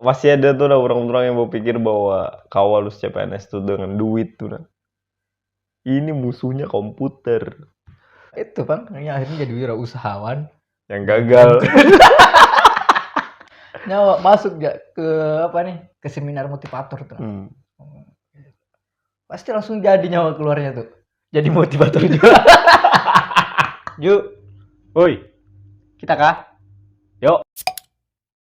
masih ada tuh nah orang-orang yang berpikir bahwa kawal lulus CPNS tuh dengan duit tuh nah. Ini musuhnya komputer. Itu kan yang akhirnya jadi wira usahawan yang gagal. Nyawa masuk gak ke apa nih ke seminar motivator tuh. Hmm. Pasti langsung jadi nyawa keluarnya tuh. Jadi motivator juga. Ju, woi, kita kah? Yuk.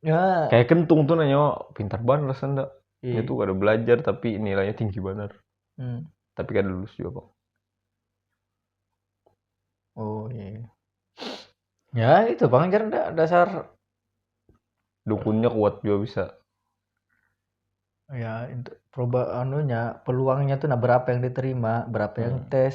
Ya. Kayak kentung tuh nanya, pintar banget rasanya ndak. Iya. Dia tuh kada belajar tapi nilainya tinggi banget. Hmm. Tapi kada lulus juga bang. Oh iya. Ya itu bang jar ndak dasar Dukunnya kuat juga bisa. ya itu proba anunya peluangnya tuh nah berapa yang diterima berapa yang Hmm. tes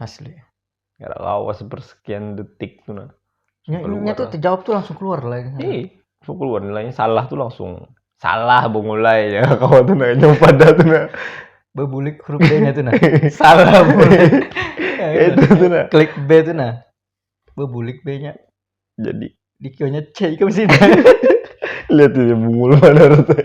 asli Gak lawas bersekian detik tuh nah. Nya, Keluar nya tuh lah. terjawab tuh langsung keluar lah. ya. Ih, langsung keluar nilainya salah tuh langsung salah bungulai ya kawan tuh nah nyoba dah tuh nah. Bebulik huruf B-nya tuh nah. Salah mulai. Itu tuh nah. Klik B tuh nah. Bebulik B-nya. Jadi Di Q-nya C ikam sini. lihat ini bungul mana rasanya.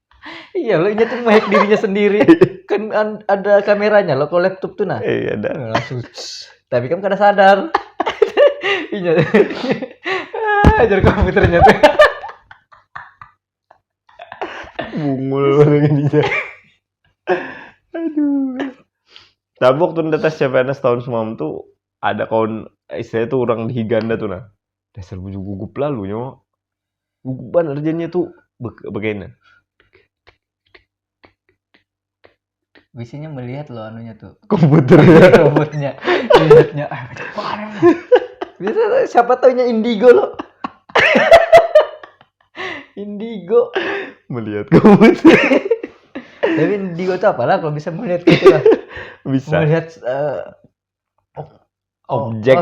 Iya loh, ini tuh nge-hack dirinya sendiri. Kan ada kameranya loh kalau laptop tuh nah. Iya ada. Nah, langsung. Tapi kan kada sadar. Iya. Ah, Ajar komputernya tuh. Bungul banget ini. Aduh. Tapi waktu nda tes CPNS tahun semam tuh ada kawan istilahnya tuh orang di Higanda tuh nah. dasar bujur gugup lalu nyo gugup banar jadinya tu bagaina Biasanya melihat loh anunya tuh. Komputer. Komputernya. Lihatnya. Ah, Biasa siapa taunya indigo loh. indigo melihat komputer. Tapi indigo tuh apalah kalau bisa melihat gitu lah. bisa. Melihat uh, objek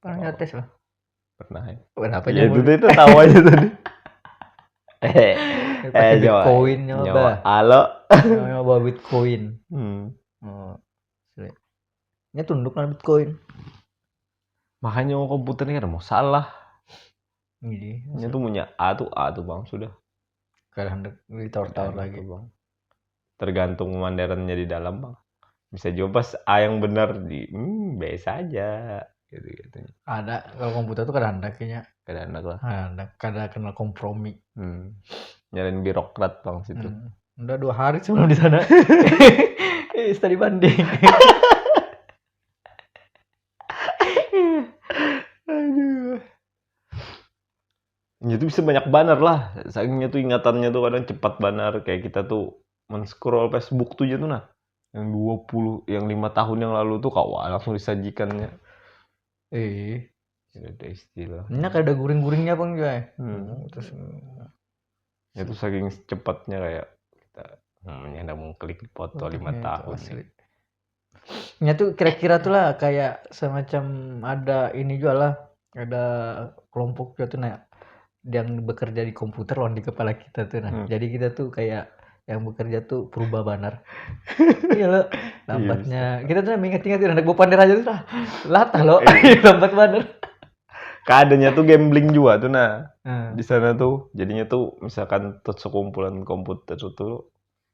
Pernah nyotes loh. Pernah ya. Kenapa ya, itu, itu tahu aja tadi. eh, eh Bitcoin nyoba. Halo. nyoba Bitcoin. Hmm. Oh. Ini tunduk kan Bitcoin. Makanya mau komputer ini kan mau salah. Ini iya. tuh punya A tuh A tuh bang sudah. Kalian di tower lagi bang. tergantung pemanderannya di dalam bang bisa juga pas A yang benar di hmm, biasa aja gitu gitu ada kalau komputer tuh kada handak kayaknya kada handak lah kada handak kada kenal kompromi hmm. nyalain birokrat bang situ hmm. udah dua hari sebelum di sana eh study banding ya itu bisa banyak banar lah sakingnya tuh ingatannya tuh kadang cepat banar kayak kita tuh men-scroll Facebook tuh aja tuh nah yang 20 yang lima tahun yang lalu tuh kawan langsung disajikannya eh tidak ada istilah ini ada guring-guringnya pun juga ya hmm. terus ya tuh saking cepatnya kayak kita hmm, ya udah mengklik foto lima tahun asli. ya tuh kira-kira tuh lah kayak semacam ada ini juga lah ada kelompok juga tuh nah yang bekerja di komputer lawan di kepala kita tuh nah hmm. jadi kita tuh kayak yang bekerja tuh berubah banar iya lo lambatnya iya, kita tuh ingat-ingat anak gue pander aja tuh lah latah lo iya. lambat banar keadaannya tuh gambling juga tuh nah hmm. di sana tuh jadinya tuh misalkan tuh sekumpulan komputer tuh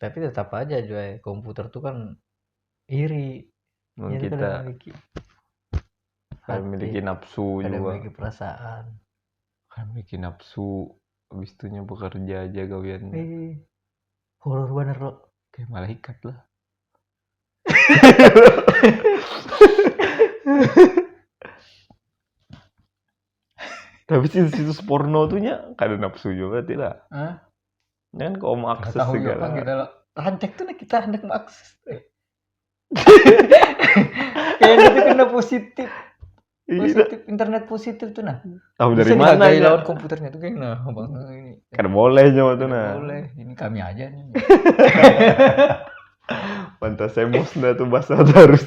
tapi tetap aja juga komputer tuh kan iri Memang Jadi kita memiliki kan memiliki nafsu juga memiliki perasaan kan memiliki nafsu habis itunya bekerja aja gawiannya eh, horor bener lo kayak malaikat lah tapi situs-situs porno tuh nya kada nafsu juga tidak Jangan kau mau akses tahu segala. Apa kita lo. Rancak tuh nih kita hendak mau akses. Kayak gitu kena positif. Iya. Positif internet positif tuh nah. Tahu dari mana ya? lawan komputernya tuh kayak nah bang ini. Kan boleh nyawa tuh nah. Boleh. Ini kami aja nih. Pantas emosional tuh bahasa terus.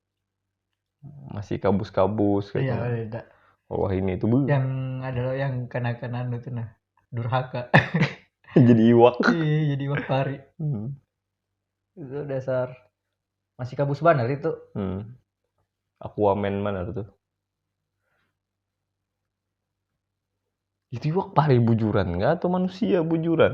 masih kabus-kabus iya katanya. beda Oh, wah ini tuh bu. yang ada loh yang kenakan anu tuh nah durhaka jadi iwak. Ih, jadi iwak pari Hmm. itu dasar masih kabus banar itu Hmm. Aquaman mana tuh? Itu iwak pari bujuran nggak atau manusia bujuran?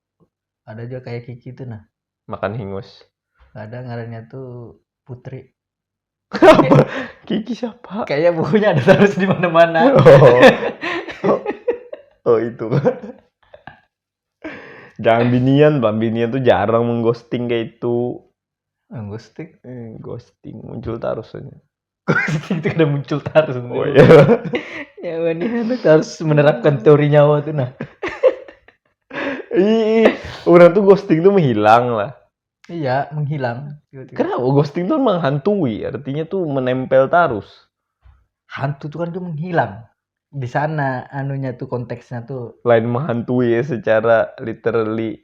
ada juga kayak Kiki tuh nah makan hingus ada ngarannya tuh Putri apa Kiki siapa kayaknya bukunya ada terus di mana-mana oh. oh. oh itu jangan binian bang binian tuh jarang mengghosting kayak itu mengghosting eh, ghosting muncul terus aja itu kada muncul tarus oh iya nyawa nih anak harus menerapkan teori nyawa tuh nah Ih, ih, orang tuh ghosting tuh menghilang lah. iya menghilang tiba-tiba. Kenapa ghosting tuh menghantui? Artinya tuh menempel tarus. hantu tuh kan dia menghilang di sana anunya tuh konteksnya tuh Lain menghantui ya secara literally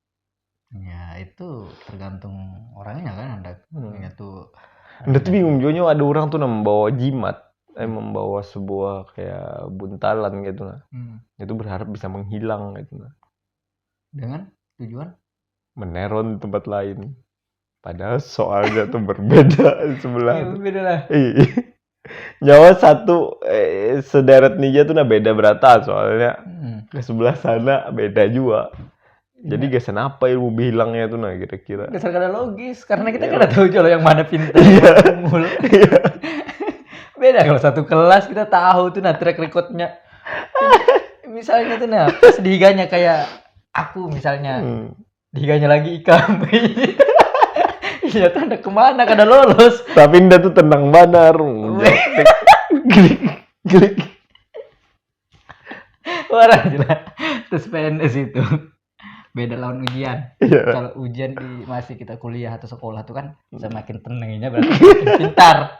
ya itu tergantung orangnya kan ada hmm. ya tuh ada tuh bingung juga ada orang tuh membawa jimat eh membawa sebuah kayak buntalan gitu nah hmm. itu berharap bisa menghilang gitu nah dengan tujuan meneron tempat lain Padahal soalnya tuh berbeda sebelah. Iya, berbeda lah. Iya. Nyawa satu eh, sederet ninja tuh nah beda berata soalnya. Hmm. Ke sebelah sana beda juga. Jadi iya. gesan apa ilmu bilangnya tuh nah kira-kira? Gesan kada logis karena kita iya. kada tahu jolo yang mana pintar. Iya. iya. beda kalau satu kelas kita tahu tuh nah track recordnya. misalnya tuh nah pas diganya kayak aku misalnya hmm. diganya lagi ikam iya tuh hendak kemana kada lolos tapi indah tuh tenang banar glik glik orang gila terus PNS itu beda lawan ujian iya. kalau ujian di masih kita kuliah atau sekolah tuh kan semakin tenangnya berarti pintar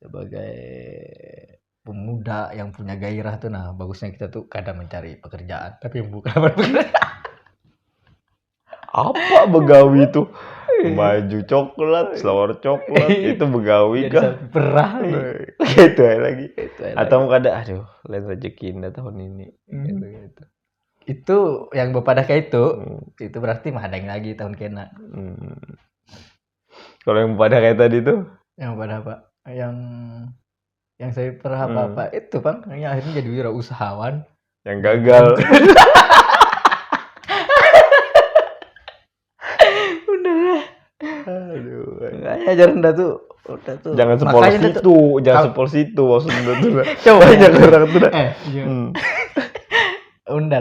sebagai pemuda yang punya gairah tuh nah bagusnya kita tuh kadang mencari pekerjaan tapi bukan apa begawi tuh iya. baju coklat selawar coklat iya. itu begawi kan perah iya. gitu ya lagi gitu ya atau lagi. ada aduh lain rezeki indah tahun ini hmm. gitu, gitu. itu yang bapak dah kayak itu hmm. itu berarti mah ada yang lagi tahun kena hmm. Kalau yang pada kayak tadi itu? Yang pada apa? Yang yang saya pernah hmm. apa-apa hmm. itu bang, yang akhirnya jadi wira usahawan. Yang gagal. Udah. Aduh. Makanya jarang dah tuh udah tuh jangan sepolos itu tuh, jangan sepolos itu maksudnya tuh coba jangan orang tuh dah eh, iya. hmm.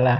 lah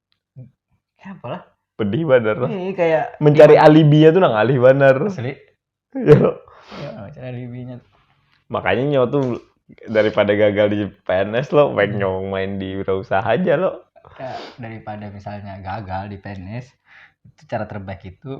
Kenapa lah? Pedih banar lah. Ini kayak Mencari alibinya tuh nang alih banar. asli. Ya, lo. Ya, cara alibinya. Makanya nyawa tuh daripada gagal di PNS lo, baik nyawa main di wirausaha aja lo. Kayak daripada misalnya gagal di PNS, itu cara terbaik itu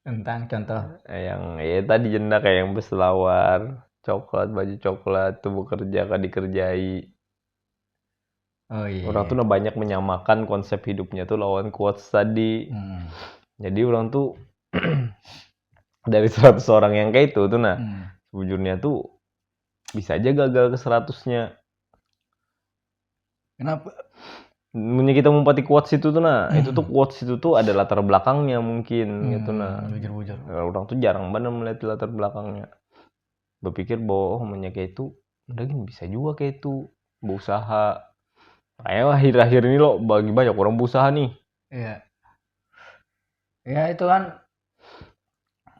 Tentang contoh. Yang ya tadi jenda kayak yang berselawar, coklat, baju coklat, tuh bekerja kah dikerjai. Oh iya. Orang tuh nah banyak menyamakan konsep hidupnya tuh lawan quotes tadi. Hmm. Jadi orang tuh dari 100 orang yang kayak itu tuh nah hmm. sebujurnya tuh bisa aja gagal ke seratusnya Kenapa? Mungkin kita mumpati quotes itu tuh nah, hmm. itu tuh quotes itu tuh ada latar belakangnya mungkin hmm, gitu nah. Bujur, bujur. Nah, orang tuh jarang banget melihat latar belakangnya. Berpikir bahwa oh hanya kayak itu, udah gini bisa juga kayak itu berusaha. Kayaknya akhir-akhir ini lo bagi banyak orang berusaha nih. Iya. Ya itu kan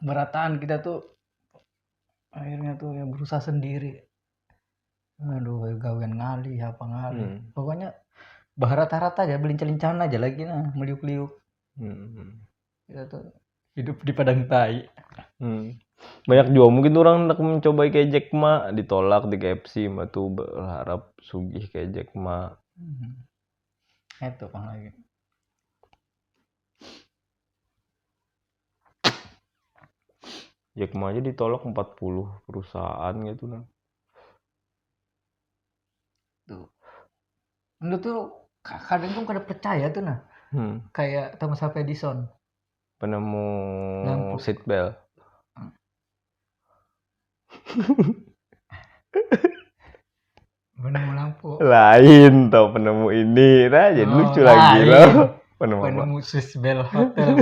berataan kita tuh akhirnya tuh ya berusaha sendiri aduh gawian ngali apa ngali hmm. pokoknya baharata-harata aja belincah-lincahan aja lagi nah meliuk-liuk hmm. ya tuh hidup di padang tai hmm. banyak juga mungkin orang nak mencoba kayak Jack Ma ditolak di KFC ma tuh berharap sugih kayak Jack Ma hmm. itu pang lagi Jack Ma aja ditolak 40 perusahaan gitu nah. Tuh. Menurut tuh kadang tuh kada percaya tuh nah. Hmm. Kayak Thomas Alva Edison. Penemu Lampu. seat belt. penemu lampu lain tau penemu ini nah jadi oh, lucu lagi loh penemu penemu Swiss Bell Hotel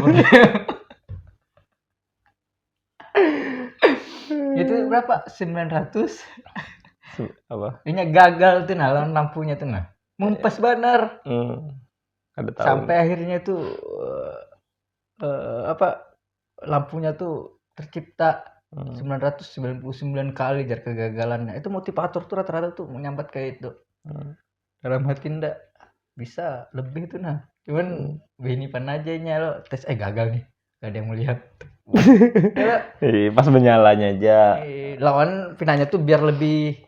itu berapa sembilan ratus apa ini gagal tuh nah lawan lampunya tuh nah mumpes bener hmm. ada sampai akhirnya tuh uh, uh, apa lampunya tuh tercipta hmm. 999 kali jar kegagalannya itu motivator tuh rata-rata tuh menyambat kayak itu hmm. dalam hati ndak bisa lebih tuh nah cuman hmm. bini pan aja nya lo tes eh gagal nih gak ada yang melihat Ih, pas menyalanya aja lawan pinanya tuh biar lebih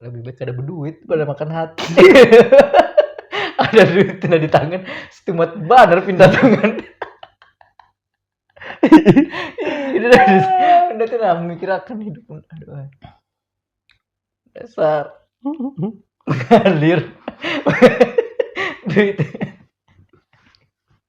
lebih baik kada berduit pada makan hati ada duit tina di tangan setumat banar pindah tangan itu udah tuh nah memikirkan hidup aduh dasar mengalir duit